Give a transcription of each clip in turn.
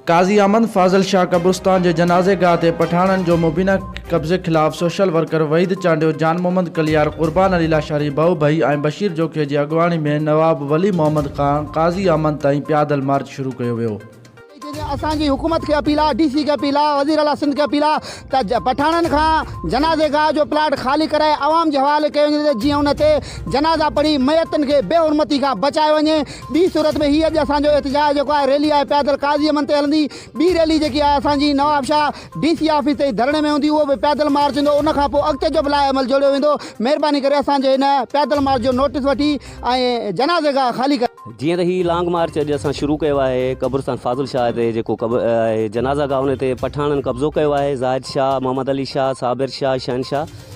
قاضي احمد فاضل شاهه قبرستان جي جنازي گاهه تي پٺاڻن جو مبينا قبضي خلاف سوشل ورڪر وحيد چانڊيو، جان محمد ڪليار، قربان علي لاشاري، ڀؤ ڀئي ۽ بشير جوکي جي اڳواڻي ۾ نواب ولي محمد کان قاضي احمد تائين پيادل مارچ شروع ڪيو ويو. اسان جي حڪومت کي اپيل آ ڊي سي کي اپيل آ وزير اعليٰ سنڌ کي اپيل آ ته پٺاڻن کان جنازي گاهه جو پلاٽ خالي ڪرائي عوام جي حوالي ڪيو وڃي ته جيئن ان تي جنازا پڙهي ميتن کي بي حرمتي کان بچايو وڃي ٻي صورت ۾ هي اڄ اسان جو احتجاج جيڪو آهي ريلي آهي پيادل قاضي امن تي هلندي ٻي ريلي جيڪي آهي اسان جي نوابشاهه ڊي سي آفيس تي ڌرڻي ۾ هوندي اهو به پيادل مارچ هوندو ان کان پوء اڳتي جو به لائحه عمل جوڙيو ويندو مهرباني ڪري اسان جي هن پيادل مارچ جو نوٽيس وٺي ۽ جنازي گاهه خالي ڪرائي جيئن ته هي لانگ مارچ اڄ اسان شروع ڪيو آهي قبرستان فاضل شاهه تي جيڪو جنازه گاهه ان تي پٺاڻن قبضو ڪيو آهي زاهد شاهه محمد علي شاهه صابر شاهه شهنشاهه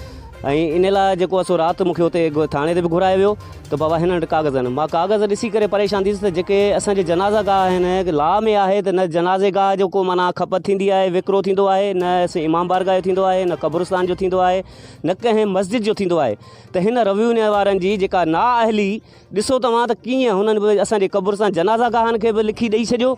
۽ ان لاء جيڪو اسو رات مونکي اتي ٿاڻي تي به گهرايو ويو ته بابا هن وٽ ڪاغذ آهن مان ڪاغذ ڏسي ڪري پريشان ٿيس ته جيڪي اسان جي جنازه گاهه آهن لا ۾ آهي ته نه جنازي گاهه جو ڪو معنی کپت ٿيندي آهي وڪرو ٿيندو آهي نه اسين امام بارگاهه جو ٿيندو آهي نه قبرستان جو ٿيندو آهي نه ڪنهن مسجد جو ٿيندو آهي ته هن رويو وارن جي جيڪا نااهلي ڏسو توهان ته ڪيئن هنن به اسان جي قبر سان جنازه گاهن کي به لکي ڏئي ڇڏيو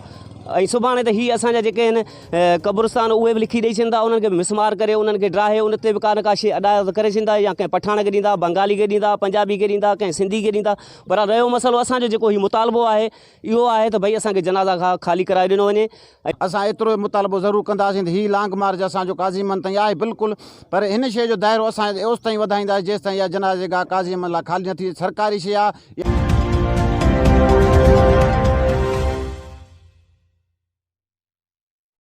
۽ سڀاڻي ته هي اسان جا جيڪي آهن قبرستان اهي به لکي ڏئي ڇڏيندا انهن کي به مسمار ڪري انهن کي ڊاهي ان تي به ڪا نه ڪا شيء ادا ته ڪري ڇڏيندا يا ڪنهن پٺاڻ کي ڏيندا بنگالي کي ڏيندا پنجابي کي ڏيندا ڪنهن سنڌي کي ڏيندا پر رهيو مسئلو اسان جو جيڪو هي مطالبو آهي اهو آهي ته ڀئي اسان کي جنازه گاهه خالي ڪرائي ڏنو وڃي ۽. اسان ايترو ئي مطالبو ضرور ڪنداسين ته هي لانگ مارچ اسان جو قاضي محمد تائين آهي بلڪل پر هن شيء جو دائرو اسان اوستائين وڌائينداسين جيستائين اها جنازه گاهه قاضي محمد لاء خالي نه ٿي سرڪاري شيء آهي.